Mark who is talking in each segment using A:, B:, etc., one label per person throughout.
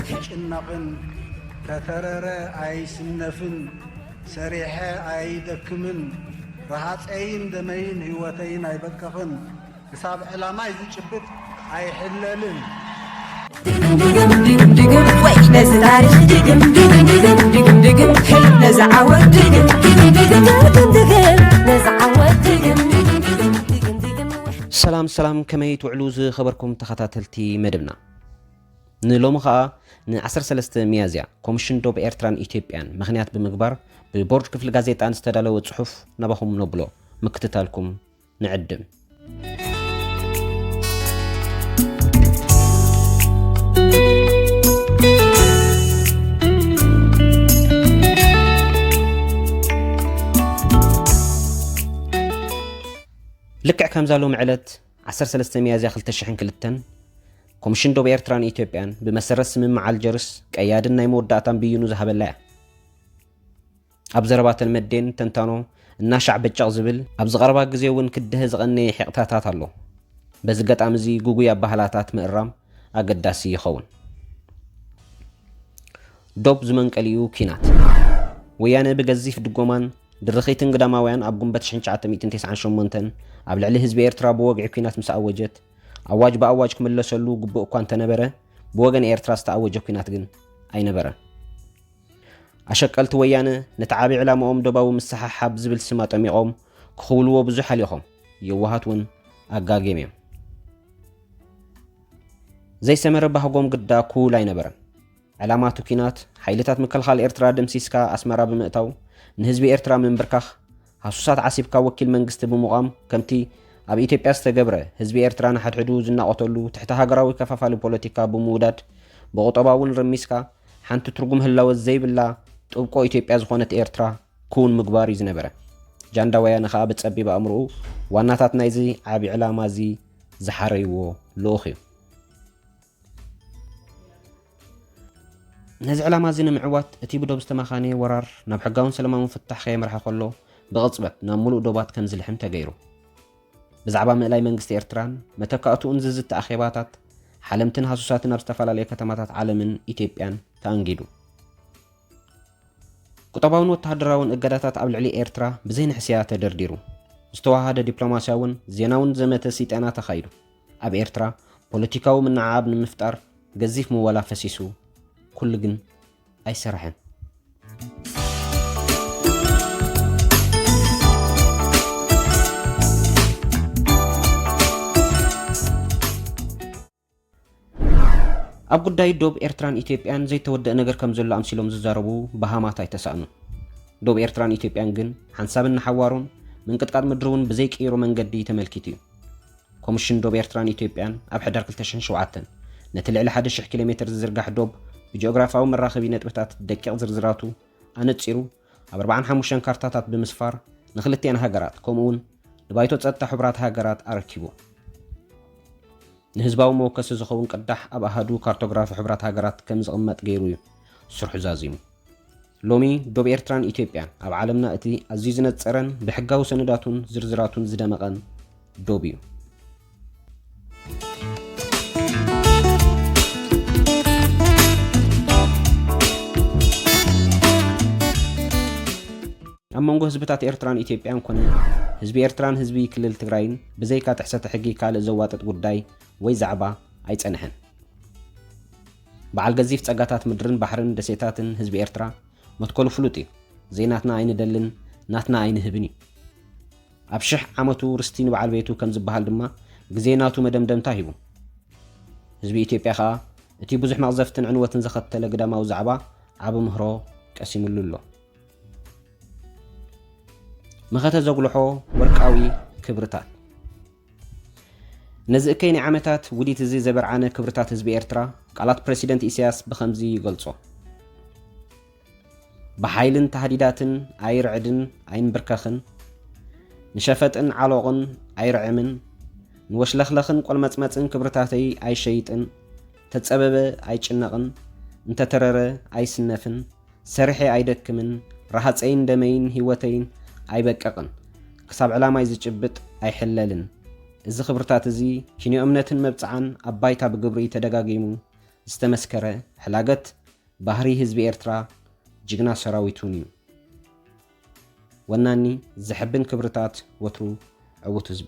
A: ኣይጭነቕን ተተረረ ኣይስነፍን ሰሪሐ ኣይደክምን ረሃፀይን ደመይን ህይወተይን ኣይበቅቕን ክሳብ ዕላማይ ዝጭብጥ ኣይሕለልን።
B: ሰላም ሰላም ከመይ ትውዕሉ ዝኸበርኩም ተኸታተልቲ መደብና ንሎሚ ኸኣ ን13 ሚያዝያ ኮሚሽን ዶብ ኤርትራን ኢትዮጵያን ምክንያት ብምግባር ብቦርድ ክፍሊ ጋዜጣን ዝተዳለወ ጽሑፍ ናባኹም ነብሎ ምክትታልኩም ንዕድም። ልክዕ ከምዛ ሎሚ ዕለት 13 ሚያዝያ 2002 ኮሚሽን ዶብ ኤርትራን ኢትዮጵያን ብመሰረት ስምምዕ ኣልጀርስ ቀያድን ናይ መወዳእታን ብይኑ ዝሃበላ እያ ኣብ ዘረባ ተልመዴን ተንታኖ እናሻዕ በጨቕ ዝብል፣ ኣብዚ ቀረባ ግዜ እውን ክደሀ ዝቐነየ ሒቕታታት ኣሎ። በዚ ኣጋጣሚ እዚ ግጉይ ኣባህላታት ምእራም ኣገዳሲ ይኸውን። ዶብ ዝመንቀሊኡ ኲናት። ወያነ ብገዚፍ ድጎማን ድርኺትን ግዳማውያን ኣብ ጉንበት ሽሕን ትሽዓተ ሚእትን ቴስዓን ሸሞንተን ኣብ ልዕሊ ህዝቢ ኤርትራ ብወግዒ ኲናት ምስ ኣወጀት፣ ኣዋጅ ብኣዋጅ ክምለሰሉ ግቡእ እኳ እንተነበረ፣ ብወገን ኤርትራ ዝተኣወጀ ኲናት ግን ኣይነበረን። ኣሸቀልቲ ወያነ ነቲ ዓቢ ዕላማኦም ዶባዊ ምስሓሓብ ዝብል ስም ኣጠሚቖም ክኽውልዎ ብዙሕ ሃሊኾም፣ የዋሃት ውን ኣጋግየም እዮም። ዘይሰመረ ባህጎም ግዳ ኩውል ኣይነበረን። ዕላማ እቲ ኩናት ሓይልታት ምክልኻል ኤርትራ ደምሲስካ ኣስመራ ብምእታው ንህዝቢ ኤርትራ ምምብርካኽ፣ ሃሱሳት ዓሲብካ ወኪል መንግስቲ ብምቛም ከምቲ ኣብ ኢትዮጵያ ዝተገብረ ህዝቢ ኤርትራ ንሓድሕዱ ዝናቖተሉ ትሕተ ሃገራዊ ከፋፋሊ ፖለቲካ ብምውዳድ ብቑጠባ እውን ርሚስካ ሓንቲ ትርጉም ህላወ ዘይብላ ጥብቆ ኢትዮጵያ ዝኾነት ኤርትራ ክውን ምግባር እዩ ዝነበረ። ጃንዳ ወያነ ከኣ ብጸቢብ ኣእምሮኡ ዋናታት ናይዚ ዓቢ ዕላማ እዚ ዝሓረይዎ ልኡኽ እዩ። ነዚ ዕላማ እዚ ንምዕዋት እቲ ብዶብ ዝተማኻነየ ወራር ናብ ሕጋውን ሰለማውን ፍታሕ ከየምርሐ ከሎ ብቕጽበት ናብ ምሉእ ዶባት ከም ዝልሕም ተገይሩ። ብዛዕባ ምእላይ መንግስቲ ኤርትራን መተካእትኡን ዝዝቲ ኣኼባታት ሓለምትን ሃሱሳትን ኣብ ዝተፈላለዩ ከተማታት ዓለምን ኢትዮጵያን ተኣንጊዱ። ቁጠባውን ወተሃደራውን እገዳታት ኣብ ልዕሊ ኤርትራ ብዘይንሕስያ ተደርዲሩ። ዝተዋሃደ ዲፕሎማስያውን ዜናውን ዘመተ ሲጠና ተኻይዱ። ኣብ ኤርትራ ፖለቲካዊ ምንዕዓብ ንምፍጣር ገዚፍ ምወላ ፈሲሱ፣ ኩሉ ግን ኣይሰረሐን። ኣብ ጉዳይ ዶብ ኤርትራን ኢትዮጵያን ዘይተወደእ ነገር ከም ዘሎ ኣምሲሎም ዝዛረቡ በሃማት ኣይተሳእኑን። ዶብ ኤርትራን ኢትዮጵያን ግን ሓንሳብን ንሓዋሩን ምንቅጥቃጥ ምድሪ እውን ብዘይቅይሮ መንገዲ ተመልኪቱ እዩ። ኮምሽን ዶብ ኤርትራን ኢትዮጵያን ኣብ ሕዳር ክልተ ሽሕን ሸውዓተን ነቲ ልዕሊ ሓደ ሽሕ ኪሎ ሜተር ዝዝርጋሕ ዶብ ብጂኦግራፍያዊ መራኸቢ ነጥብታት ደቂቕ ዝርዝራቱ ኣነጺሩ ኣብ ኣርባዓን ሓሙሽተን ካርታታት ብምስፋር ንክልቲኣን ሃገራት ከምኡ'ውን ንባይቶ ጸጥታ ሕቡራት ሃገራት ኣረኪቡ። ንህዝባዊ መወከሲ ዝኸውን ቅዳሕ ኣብ ኣሃዱ ካርቶግራፊ ሕቡራት ሃገራት ከም ዝቕመጥ ገይሩ እዩ ስርሑ ዛዚሙ። ሎሚ ዶብ ኤርትራን ኢትዮጵያን ኣብ ዓለምና እቲ ኣዝዩ ዝነጸረን ብሕጋዊ ሰነዳቱን ዝርዝራቱን ዝደመቐን ዶብ እዩ። ኣብ መንጎ ህዝብታት ኤርትራን ኢትዮጵያን ኮነ ህዝቢ ኤርትራን ህዝቢ ክልል ትግራይን ብዘይካ ጥሕሰተ ሕጊ ካልእ ዘዋጥጥ ጉዳይ ወይ ዛዕባ ኣይጸንሐን። በዓል ገዚፍ ጸጋታት ምድርን ባሕርን ደሴታትን ህዝቢ ኤርትራ መትከሉ ፍሉጥ እዩ። ዘይናትና ኣይንደልን ናትና ኣይንህብን እዩ። ኣብ ሽሕ ዓመቱ ርስቲ ንበዓል ቤቱ ከም ዝበሃል ድማ ግዜ ናቱ መደምደምታ ሂቡ። ህዝቢ ኢትዮጵያ ከኣ እቲ ብዙሕ መቕዘፍትን ዕንወትን ዘኸተለ ግዳማዊ ዛዕባ ዓቢ ምህሮ ቀሲምሉ ኣሎ። መኸተ ዘጉልሖ ወርቃዊ ክብርታት! ነዚ እከይ ናይ ዓመታት ውዲት እዚ ዘበርዓነ ክብርታት ህዝቢ ኤርትራ፣ ቃላት ፕረሲደንት ኢሳያስ ብኸምዚ ይገልጾ። ብሓይልን ታህዲዳትን ኣይርዕድን ኣይንብርከኽን፣ ንሸፈጥን ዓሎቕን ኣይርዕምን፣ ንወሽለኽለኽን ቆልመጽመጽን ክብርታተይ ኣይሸይጥን፣ ተጸበበ ኣይጭነቕን፣ እንተተረረ ኣይስነፍን፣ ሰሪሐ ኣይደክምን ረሃፀይን ደመይን ሂወተይን ኣይበቅቕን ክሳብ ዕላማይ ዝጭብጥ ኣይሕለልን እዚ ክብርታት እዚ ኪንዮ እምነትን መብፅዓን ኣብ ባይታ ብግብሪ ተደጋጊሙ ዝተመስከረ ሕላገት ባህሪ ህዝቢ ኤርትራ ጅግና ሰራዊቱን እዩ ወናኒ ዘሕብን ክብርታት ወትሩ ዕውት ህዝቢ።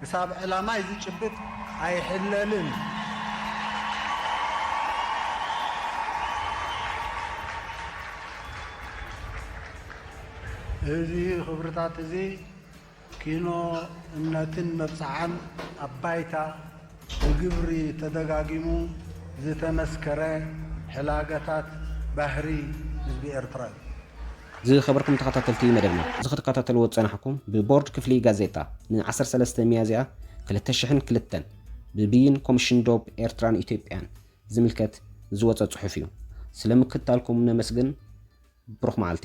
A: ክሳብ ዕላማይ ዝጭብጥ ኣይሕለልን። እዚ ክብርታት እዚ ኪኖ እምነትን መብጽዓን ኣብ ባይታ ብግብሪ ተደጋጊሙ ዝተመስከረ ሕላገታት ባህሪ ህዝቢ ኤርትራ እዩ። ዝኸበርኩም
B: ተኸታተልቲ መደብና፣ እዚ ክትከታተልዎ ዝጸናሕኩም ብቦርድ ክፍሊ ጋዜጣ ን ዓሰርተ ሰለስተ ሚያዝያ ክልተ ሽሕን ክልተን ብብይን ኮምሽን ዶብ ኤርትራን ኢትዮጵያን ዝምልከት ዝወጸ ጽሑፍ እዩ። ስለ ምክትታልኩም ነመስግን። ብሩኽ መዓልቲ።